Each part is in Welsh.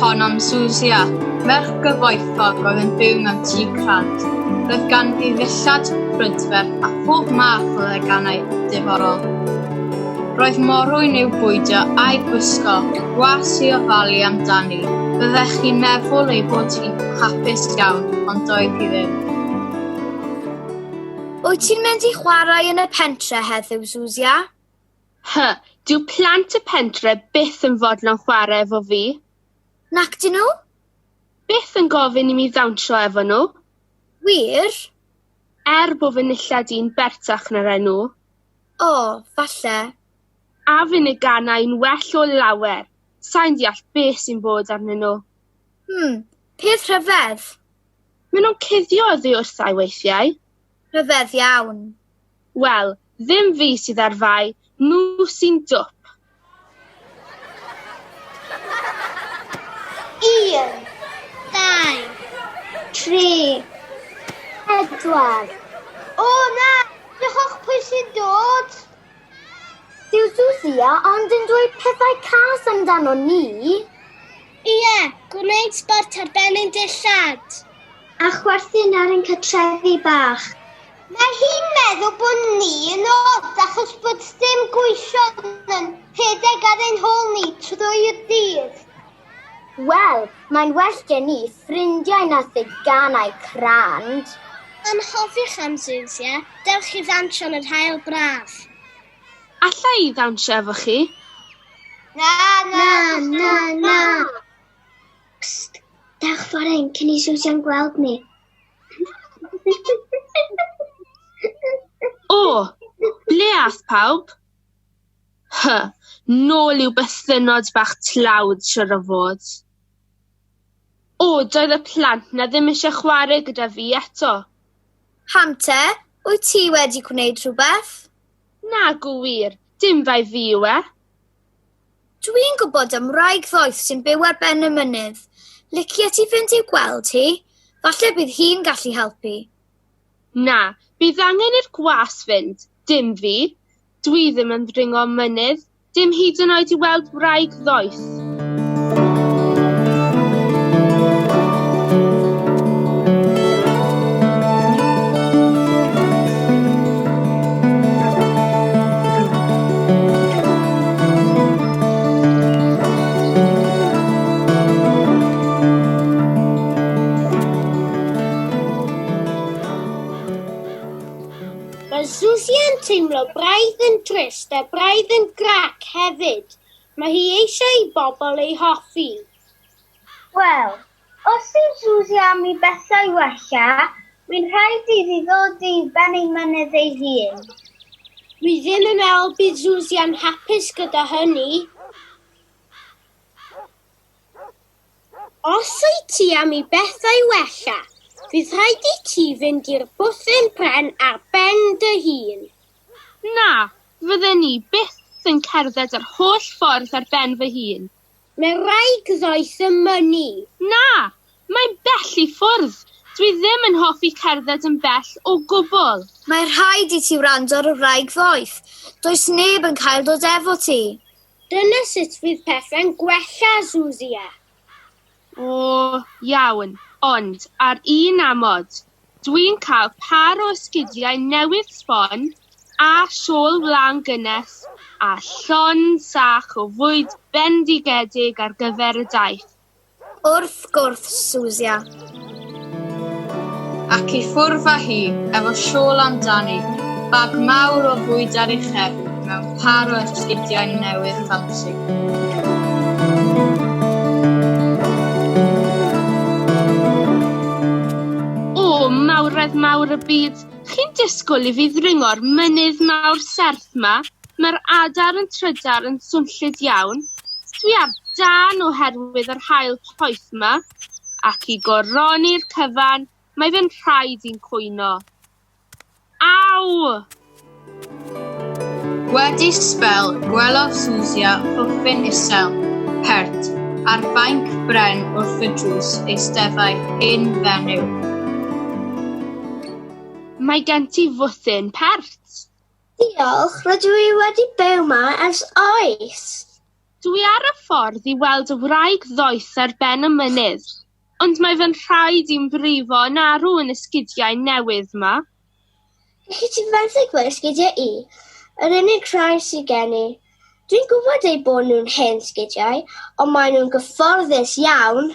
hon am Susia, merch gyfoethog oedd yn byw mewn tŷ crant. Roedd ganddi ddillad, brydferth a phob math o ddeganau diddorol. Roedd morwyn i'w bwydio a'i gwisgo, gwas i ofalu amdani. Byddech chi'n meddwl ei bod hi'n hapus iawn, ond doedd hi ddim. Wyt ti'n mynd i chwarae yn y pentre heddiw, Zuzia? Hy, dyw plant y pentre byth yn fodlon chwarae efo fi. Nac dyn nhw? Byth yn gofyn i mi ddawnsio efo nhw. Wir? Er bod fy nillad i'n bertach na'r enw. O, falle. A fyn y ganai'n well o lawer. Sai'n deall beth sy'n bod arnyn nhw. Hmm, peth rhyfedd. Maen nhw'n cuddio oddi wrtha i weithiau. Rhyfedd iawn. Wel, ddim fi sydd ar fai, nhw sy'n dwp. Un, dau, tri, pedwar. O na, diolch pwy sy'n dod. Dyw Susia ond yn dweud pethau cas amdano ni. Ie, gwneud sbort ar ben ein dillad. A chwerthin ar ein cartrefi bach. Mae hi'n meddwl bod ni yn od achos bod dim gweision yn rhedeg ar ein hôl ni trwy'r dydd. Wel, mae'n well gen ni ffrindiau na theganau crand. Anghofiwch am Zeus, ie? Dewch i ddawnsio yn yr haul braf. Alla i ddawnsio efo chi? Na, na, na, na! Psst! Dewch ffordd hyn cyn i Zeus iawn gweld ni. O! Ble ath pawb? Hy, nôl i'w bythynnod bach tlawd siwr o fod. O, doedd y plant 'na ddim eisiau chwarae gyda fi eto. Pam te? Wyt ti wedi gwneud rhywbeth? Nag yw wir, dim bai fi yw e. Dwi'n gwybod am wraig ddoeth sy'n byw ar ben y mynydd. Licia ti fynd i'w gweld hi? Falle bydd hi'n gallu helpu. Na, bydd angen i'r gwas fynd, dim fi. Dwi ddim yn ddringo mynydd, dim hyd yn oed i weld wraig ddoeth. Mae Susie yn teimlo braidd yn trist a braidd yn grac hefyd. Mae hi eisiau i bobl ei hoffi. Wel, Os yw Suzy am i bethau wella, mae'n rhaid iddi ddod i ben ei mynydd ei hun. Dwi ddim yn meddwl bydd Suzy yn hapus gyda hynny. Os wyt ti am i bethau wella, bydd rhaid i ti fynd i'r bwthyn pren ar ben dy hun. Na, fydden i byth yn cerdded yr holl ffordd ar ben fy hun. Mae rhaid ddoe symynu. Na! Mae'n bell i ffwrdd. Dwi ddim yn hoffi cerdded yn bell o gwbl. Mae rhaid i ti wrando ar y wraig ddoeth. Does neb yn cael dod efo ti. Dyna sut fydd pethau'n gwella, Zuzia. O, iawn, ond ar un amod. Dwi'n cael pâr o esgidiau newydd sbon, a shawl wlân gynnes, a llon sach o fwyd bendigedig ar gyfer y daith. Wrth gwrs, Susia. Ac i ffwrdd â hi, efo siôl amdani, bag mawr o fwyd ar ei chefn, mewn pâr o esgidiau newydd ffansi. O, mawredd mawr y byd, chi'n disgwyl i fi ddringo'r mynydd mawr serth 'ma? Mae'r adar yn trydar yn swnllyd iawn. Dwi ar dân oherwydd yr haul poeth 'ma, ac i goroni'r cyfan, mae fe'n rhaid i'n cwyno. Aw! Wedi sbel, gwelodd Susia pwffyn isel, pert, ar fainc bren wrth y drws eisteddai hen fenyw. Mae gen ti fwthyn pert. Diolch, rydw i wedi byw ma ers oes. Dw i ar y ffordd i weld y wraig ddoeth ar ben y mynydd, ond mae fy nhraed i'n brifo yn arw yn y sgidiau newydd ma. Gallet ti fenthyg fy sgidiau i, yr unig rhai sydd gen i. Dwi'n gwybod eu bod nhw'n hen sgidiau, ond maen nhw'n gyfforddus iawn.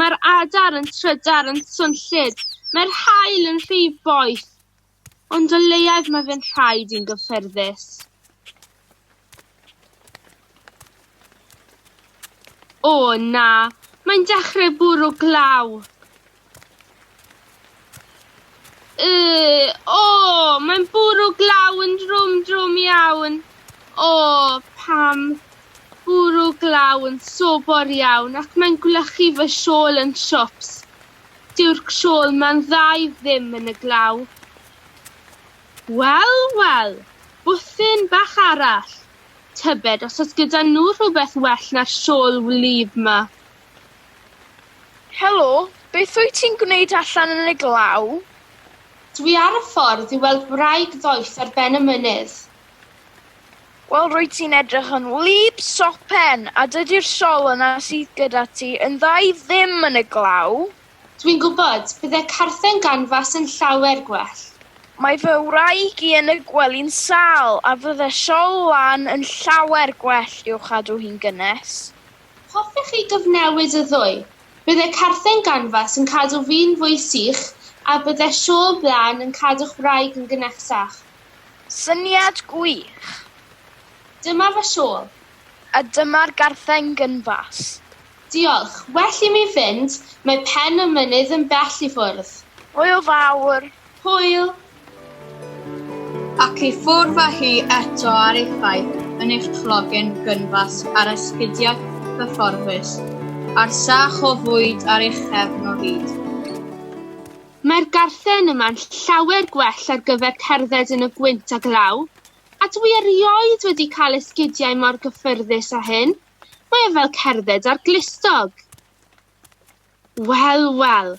Mae'r adar yn trydar, yn swnllyd, mae'r haul yn rhy boeth, ond o leiaf mae fe'n rhaid i'n gyffyrddus. O na, mae'n dechrau bwrw glaw. Yy! O! Mae'n bwrw glaw yn drwm drwm iawn. O! Pam bwrw glaw yn sobor iawn ac mae'n gwlychu fy siôl yn siwps. Dyw'r siôl ma'n dda i ddim yn y glaw. Wel, wel! Bwthyn bach arall! Tybed os oes gyda nhw rhywbeth well na'r siôl wlyb 'ma? Helo, beth wyt ti'n gwneud allan yn y glaw? Dwi ar y ffordd i weld wraig ddoeth ar ben y mynydd. Wel, rwyt ti'n edrych yn wlyb sopen, a dydy'r sol yna sydd gyda ti yn dda i ddim yn y glaw. Dwi'n gwybod, bydde carthen ganfas yn llawer gwell. Mae fy wraig i yn y gwely'n sâl, a fydde sol lan yn llawer gwell i'w chadw hi'n gynnes. Hoffech chi gyfnewid y ddwy? Bydde carthen ganfas yn cadw fi'n fwy sych a bydde siôl blân yn cadw'ch wraig yn gynnectach. Syniad gwych! Dyma fy siôl. A dyma'r garthen gynfas. Diolch. Well i mi fynd, mae pen y mynydd yn bell i ffwrdd. Hwyl fawr! Hwyl! Ac i ffwrdd â hi eto ar effaith yn eich clogen gynfas ar esgidiau cyfforddus, a'r sach o fwyd ar eich chefn o hyd. Mae'r garthen yma'n llawer gwell ar gyfer cerdded yn y gwynt a glaw, a dwi erioed wedi cael esgidiau mor gyffyrddus â hyn, mae o fel cerdded ar glustog! Wel, wel!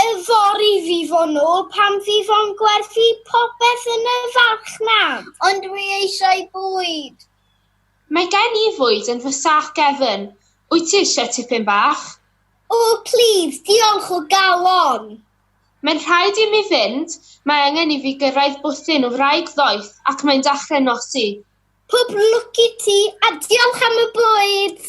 Yfory fi fo nôl pan fi fo'n gwerthu popeth yn y farchnad. Ond dwi eisiau bwyd! Mae gen i fwyd yn fy sac gefn, wyt ti eisiau tipyn bach? O, plîs, diolch o galon! Mae'n rhaid i mi fynd, mae angen i fi gyrraedd bwthyn wraig ddoeth ac mae'n dachrau nosi. Pob lwc i ti a diolch am y bwyd!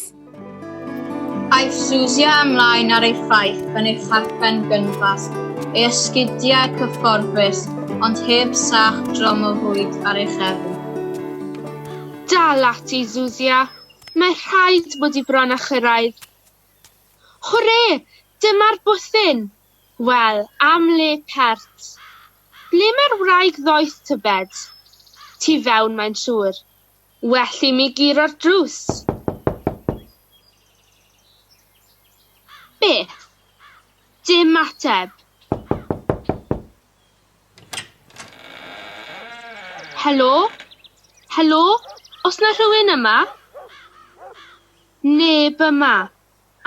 Aeth Susia ymlaen ar ei ffaith yn ei charpen gynfas, ei ysgidiau cyfforddus, ond heb sach drom o fwyd ar ei chefn. Dal ati, Susia. Mae rhaid bod i bron a chyrraedd. Hwre! Dyma'r bwthyn! Wel, am le pert! Ble mae'r wraig ddoeth tybed? Tu fewn mae'n siŵr. Well i mi guro'r drws. Beth? Dim ateb. Helo? Helo? Os na rhywun yma? Neb yma.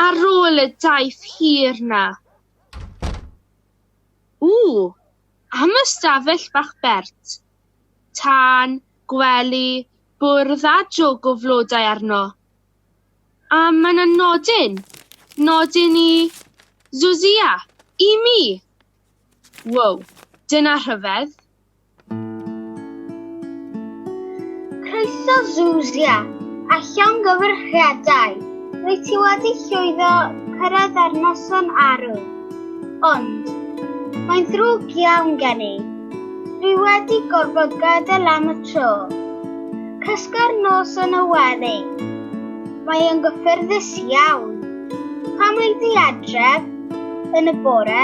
Ar ôl y daith hir na. Ww! Am ystafell bach bert. Tân, gwely, bwrdd a jwg o flodau arno. A mae 'na nodyn. Nodyn i Zuzia. I mi! Wow, dyna rhyfedd. Croeso Zuzia, a llongyfarchiadau! Rwyt ti wedi llwyddo cyrraedd ar noson arw. Ond, mae'n ddrwg iawn gen i. Dwi wedi gorfod gadael am y tro. Cysga'r nos yn y weddi. Mae yn gyffyrddus iawn. Pam wyt ti adref yn y bore?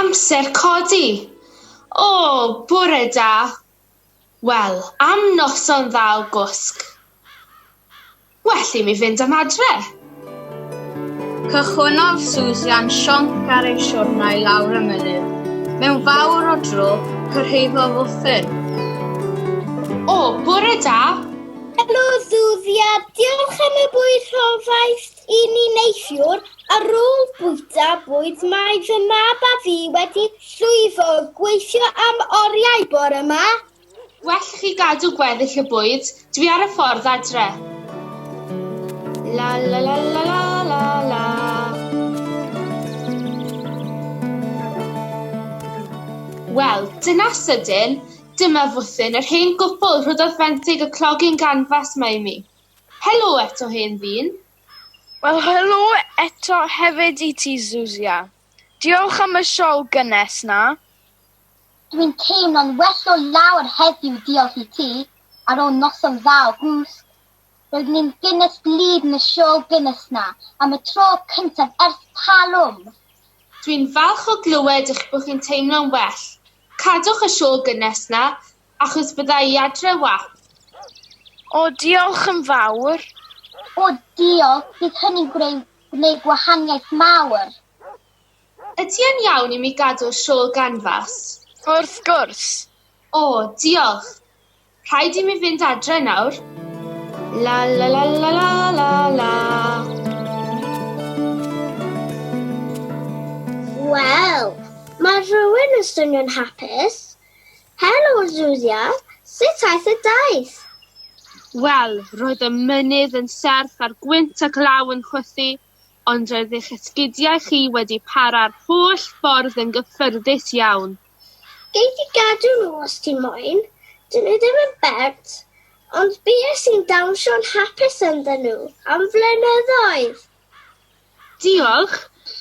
Amser codi! O, bore da! Wel, am noson dda o gwsg! Well i mi fynd am adre! Cychwynnodd Susan sionc ar ei siwrna i lawr y mynydd. Mewn fawr o dro, cyrhaeddodd Uthin. O, bore da! Helo, Susia. Diolch am y bwyd rhofaist i ni neithiwr. Ar ôl bwyta bwyd, mae fy mab a fi wedi llwyddo gweithio am oriau bore 'ma. Well i chi gadw gweddill y bwyd, dwi ar y ffordd adre. La la la la la la la. Wel, dyna sydyn, dyma fwthyn yr hen gwpl rhoddodd fenthyg y clogging ganfas mae i mi. Helo eto hen ddyn. Wel helo eto hefyd i ti Zuzia. Diolch am y sioe gynnes 'na. Dwi'n teimlo'n well o lawer heddiw diolch i ti, ar ôl noson dda o gwsg. Roedd ni'n Guinness Bleed yn y siôl Guinness 'na am y tro cyntaf ers talwm! Dwi'n falch o glywed eich bod chi'n teimlo'n well. Cadwch y siôl Guinness 'na, achos bydda i adre 'wan. O, diolch yn fawr! O, diolch, bydd hynny'n gwneud gwahaniaeth mawr! Wyt ti yn iawn i mi gadw'r siôl ganfas? Wrth gwrs! O, diolch! Rhaid i mi fynd adre nawr. La la la la la la la. Wel, mae rhywun yn swnio'n hapus. Helo, Zuzia. Sut aeth y daith? Wel, roedd y mynydd yn serth a'r gwynt a glaw yn chwythu, ond roedd eich esgidiau chi wedi para'r holl ffordd yn gyffyrddus iawn. Gei di gadw nhw os ti moyn, dyn nhw ddim yn bert, ond bues i'n dawnsio'n hapus ynddyn nhw am flynyddoedd! Diolch!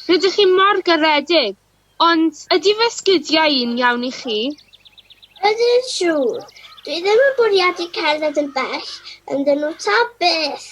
Rydych chi mor garedig! Ond ydy fy esgidiau i'n iawn i chi? Ydyn, siŵr. Dwi ddim yn bwriadu cerdded yn bell ynddyn nhw ta beth!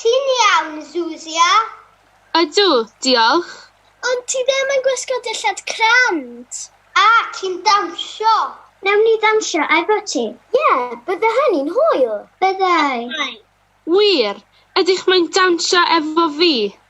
Ti'n iawn, Zuzia? Ydw, diolch. Ond ti ddim yn gwisgo dillad crand. A, ti'n dawnsio? Wnawn ni ddawnsio efo ti. Ie, bydde hynny'n hwyl. Byddai. Wir, ydych mae'n dawnsio efo fi?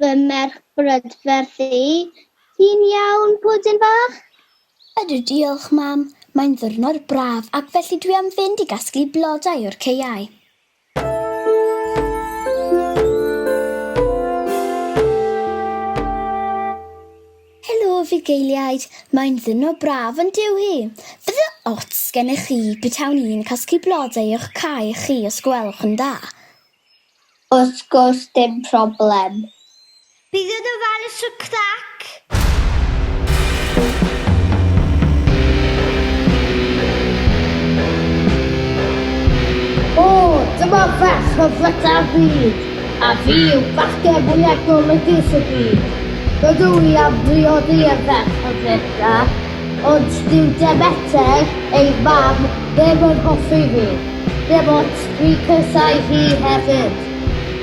fy merch brydferth i. Ti'n iawn, pwdin bach? Ydw, diolch, mam. Mae'n ddwrnod braf ac felly dwi am fynd i gasglu blodau o'r caeau. fugeiliaid, mae'n ddyno braf yn dyw hi. Bydde ots gennych chi betawn i'n casglu blodau o'ch cae chi os gwelwch yn dda. Wrth gwrs dim problem. Bydd yn ofalus o crac! O! Dyma ferch o flyta'r byd! A fi yw bachgen fwyaf golygus y byd. Rydw i am briodi y ferch o flyta, ond dyw Demeter, ei mam, ddim yn hoffi fi, dim ots, dwi'n casáu hi hefyd.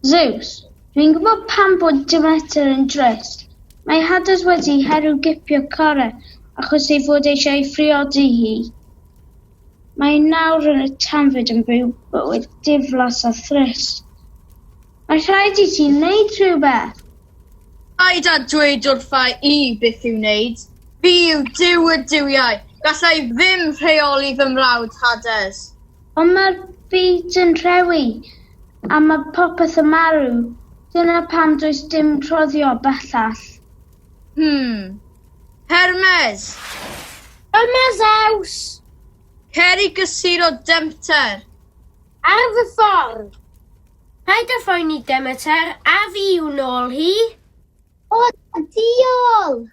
Zeus, Dwi'n gwybod pam bod Demeter yn drist. Mae Hades wedi herio gipio Chore achos ei fod eisiau ei phriodi hi. Mae nawr yn y tanfyd yn byw bywyd diflas a thrist. Mae rhaid i ti wneud rhywbeth! Paid â dweud wrtha i beth i'w wneud. Fi yw Duw y duwiau, galla i ddim rheoli fy mrawd Hades. Ond mae'r byd yn rhewi, a mae popeth yn marw. Dyna pam does dim rhoddio bellach. Hmm. Hermes! Yma, Zeus! Cer i gysuno Demter! Ar fy ffordd! Paid â phoeni, Demeter, a fi i'w nôl hi! O, diolch!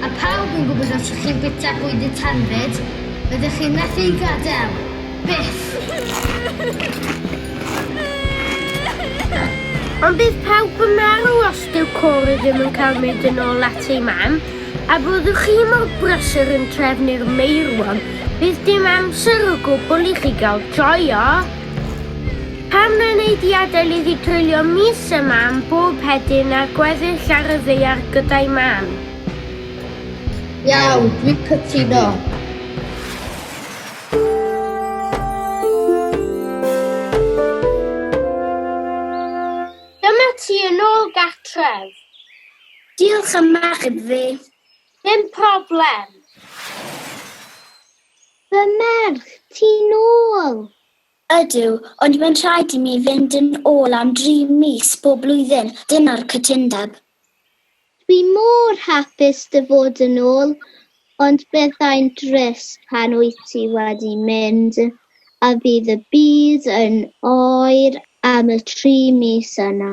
A phawb yn gwybod os ydych chi'n bwyta bwyd neu tanfyd, rydych chi'n methu ei gadael. Byth! Ond bydd pawb yn marw os dyw Cory ddim yn cael mynd yn ôl at ei mam, a byddwch chi mor brysur yn trefnu'r meirwon, bydd dim amser o gwbl i chi gael joio! Pam na wnei di adael iddi dreulio mis a mam bob hedyn ar gweddill ar y ddaear gyda'i mam? Iawn, dwi'n cytuno. Dyma ti yn ôl gartref. Diolch am achub fi. Dim problem. Fy merch, ti'n ôl! Ydw, ond mae'n rhaid i mi fynd yn ôl am dri mis bob blwyddyn, dyna'r cytundeb. Dwi mor hapus dy fod yn ôl, ond byddai'n drist pan wyt ti wedi mynd a fydd y byd yn oer am y tri mis yna.